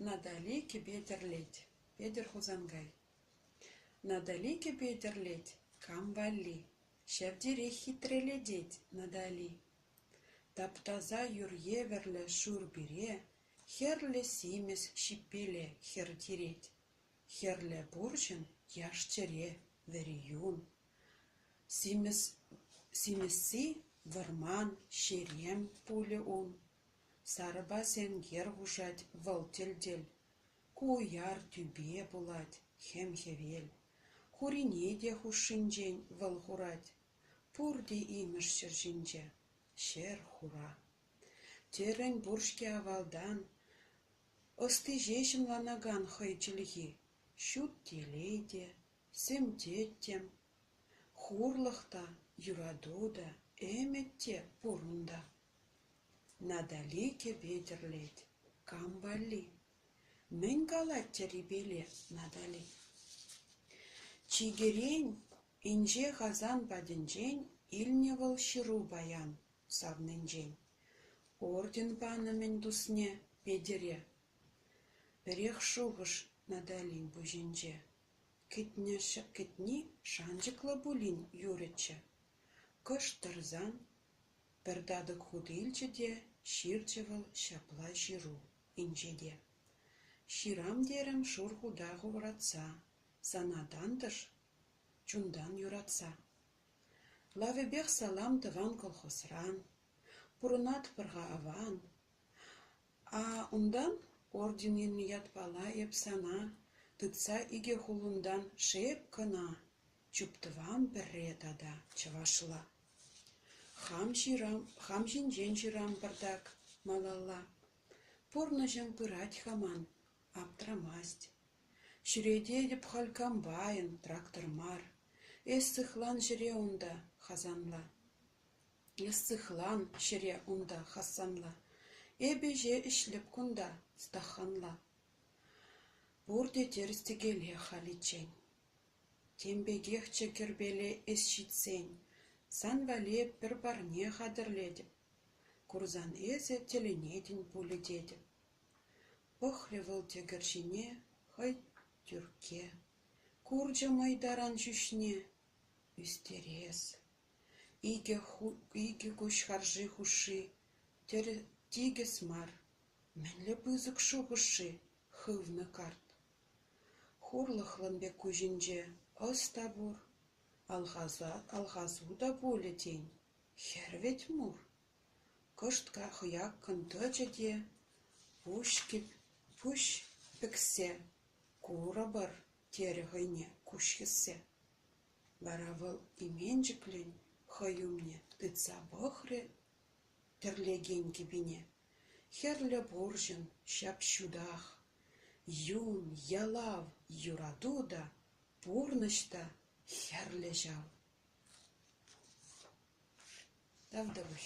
Натали кӗпе тӗрлет, Петӗр Хусанкай. Натали кӗпе тӗрлет, Кам валли, Ҫав терех хитрелетет Натали. Таптаса юр евӗрлӗ Шур пире, Хӗрлӗ симӗс ҫиппеле Хӗр тирет. Хӗрлӗ пурҫӑн Яш чӗре, Вӗри юн. Симӗсси вӑрман, Ҫерем пулӗ ун. Сарӑпа сенкер хушать вӑл тӗл-тӗл. Ку уяр тӳпе пулать, хем-хӗвел. Хурине те хушшинчен вӑл хурать. Пурте имӗш ҫӗр ҫинче, ҫӗр хура. Терӗн пур-ҫке авалтан ӑсти ҫеҫ ӑнланакан хӑй чӗлхи. Ҫут телей те, сӗмтеттӗм. Хурлӑх та, юрату та, ӗмӗт те пур унта. Натали кӗпе тӗрлет. Кам валли? Мӗн калать Тӗрипеле Натали? Чикӗрен, инҫе Хасан патӗнчен илнӗ вӑл ҫыру паян савнинчен. Орден панӑ-мӗн тусне Петӗре. Пӗрех шухӑш Наталин пуҫӗнче. Кӗтни шанчӑклӑ пулин юрӗччӗ. Кӑшт тӑрсан Пӗр татӑк хут илчӗ те ҫырчӗ вӑл ҫапла ҫыру инҫете: «Ҫырам терӗм шур хута хӑвратса, Сана тантӑш чунтан юратса. Лавӗпех салам тӑван колхозран, Пурӑнатпӑр-ха аван. А унтан орден илнӗ ятпала эп сана Тытса икӗ хулунтан шеп кӑна, Чуптӑвам пӗрре тата чӑвашла». Хам ҫинчен ҫырам пӑртак малалла. Пурнӑҫӑм пырать-ха ман, аптрамасть. Ҫӳрететӗп халь комбайн, трактор мар. Эс сыхлан ҫӗре унта, Хасанла. Эс сыхлан ҫӗре унта, Хасанла. Эпӗ ӗҫе ӗҫлӗп кунта, Стаханла. Пурте тӗрӗс-тӗкеле халиччен. Тем пекехчӗ кӗрпеле эс ҫитсен, сан валли пӗр парне хатӗрлетӗп, курсан эсӗ тӗлӗнетӗн пулӗ тетӗп. Пӑхрӗ вӑл тӗкӗр ҫине хӑй Тӳркке, курчӗ мӑй таран ҫӳҫне. Ӳстерес, икӗ куҫ харши хушши, тикӗс мар, мӗнле пысӑк шухӑш-ши? хывнӑ карт. Хурлӑхлӑн пек куҫӗнче ӑс та пур, алхасу та пулӗ тен, хӗр вӗт мур. Кӑшт хӑяккӑн тӑчӗ те, пуҫкӗп, пуҫ пӗксе, курӑпӑр, терӗ хӑйне куҫ хӗссе. Вара вӑл именчӗклӗн хӑй умне тытса пӑхрӗ тӗрлекен кӗпине. Хӗрлӗ пурҫӑн ҫап-ҫутах, юн, ялав, юрату та, пурнӑҫ та хӗрлӗ ҫав. Тав тӑвӑҫ.